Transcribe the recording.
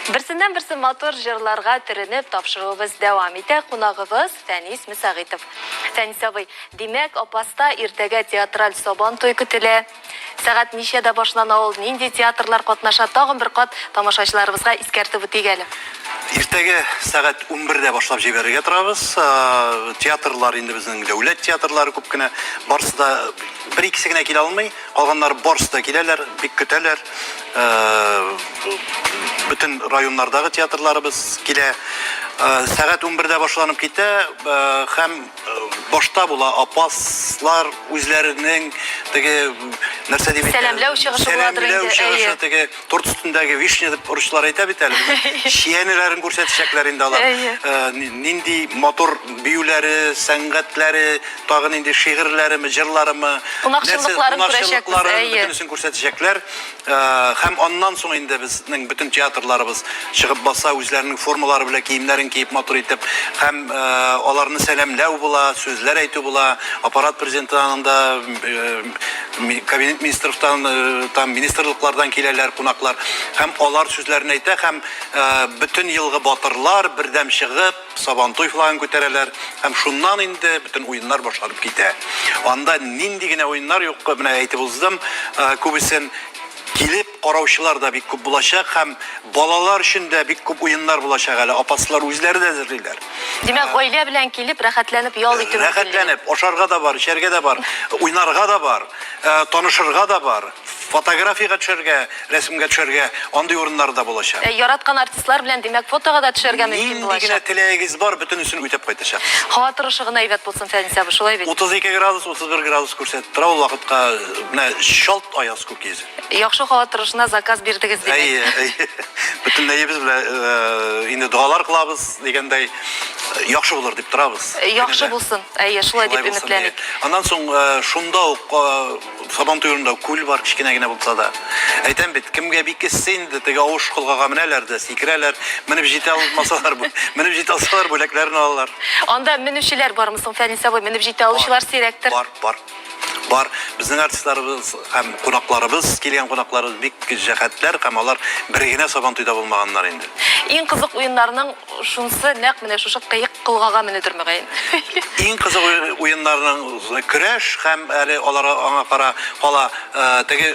Берсеннән-берсе матур җырларга төренеп, тапшыруыбыз дәвам итә. Кунагыбыз, Фәнис Мөсәгыйтов. Фәнис абый, димәк, Апаста иртәгә театраль Сабантуй көтелә. Сәгать ничәдә башлана ул, нинди театрлар катнаша, тагын бер кат тамашачыларыбызга искәртеп үтик әле. Иртәгә сәгать унбердә башлап җибәрергә торабыз. Театрлар инде безнең дәүләт театрлары күп кенә, барысы да, бер-икесе генә килә алмый. Калганнар барсы да киләләр, бик көтәләр. Бөтен районнардагы театрларыбыз килә. Сәгать унбердә башланып китә һәм башта була апаслар үзләренең теге нәрсә дип әйтә. Сәламләү чыгышы буладыр инде, әйе. торт өстендәге вишня дип русчылар әйтә бит әле. Чиянеләрен күрсәтәчәкләр инде алар. Э, нинди матур биюләре, сәнгатьләре, тагын инде шигырьләреме, җырларымы, кунакчылыкларын күрәчәкләр. Бөтенесен күрсәтәчәкләр. Э, һәм аннан соң инде безнең бөтен театрларыбыз чыгып баса, үзләренең формалары белән киемнәрен киеп матур итеп, һәм э, аларны сәламләү була, сүзләр әйтү була. Аппарат президенты анда Кабинет министрлыктан, э, там министрлыклардан киләләр кунаклар һәм алар сүзләрен әйтә һәм э, бөтен елгы батырлар бердәм чыгып Сабантуй флагын күтәрәләр һәм шуннан инде бөтен уеннар башланып китә. Анда нинди генә уеннар юк, менә әйтеп уздым, э, күбесен килеп Караучылар да бик күп булачак һәм балалар өчен дә бик күп уеннар булачак әле, апаслар үзләре дә әзерлиләр. Димәк, гаилә белән килеп, рәхәтләнеп ял итү мөмкинлеге. Рәхәтләнеп, ашарга да бар, эчәргә дә бар, уйнарга да бар, танышырга да бар, фотографиягә төшәргә, рәсемгә төшәргә, андый урыннар да булачак. Яраткан артистлар белән, димәк, фотога да төшәргә мөмкин булачак. Нинди генә теләгегез бар, бөтенесен үтәп кайтачакбыз. Һава торышы гына әйбәт булсын, Фәнис абый, шулай бит? 32 градус, 31 градус күрсәтеп тора ул вакытка, менә чалт аяз күк йөзе. Яхшы халат торышына заказ бирдегез, димәк. Әйе, әйе. Бөтенләебез белә инде догалар кылабыз, дигәндәй, яхшы булыр дип торабыз. Яхшы булсын. Әйе, шулай дип өметләник. Аннан соң шунда ук Сабан туенда күл бар, кечкенә генә булса да. Әйтәм бит, кемгә бик эссе инде, теге авыш колгага менәләр дә, сикерәләр, менеп җитә алмасалар, менеп җитә алсалар, бүләкләрен алалар. Анда менүчеләр бармы соң, Фәнис абый, менеп җитә алучылар сирәктер? Бар, бар. Бар, безнең артистларыбыз һәм кунакларыбыз, килгән кунакларыбыз бик җәһәтләр һәм алар бер генә Сабантуйда булмаганнар инде. Иң кызык уеннарның шунсы нәкъ менә шушы кыек колгага менүдер мөгаен. Иң кызык уеннарның, көрәш һәм әле алар аңа кара кала теге.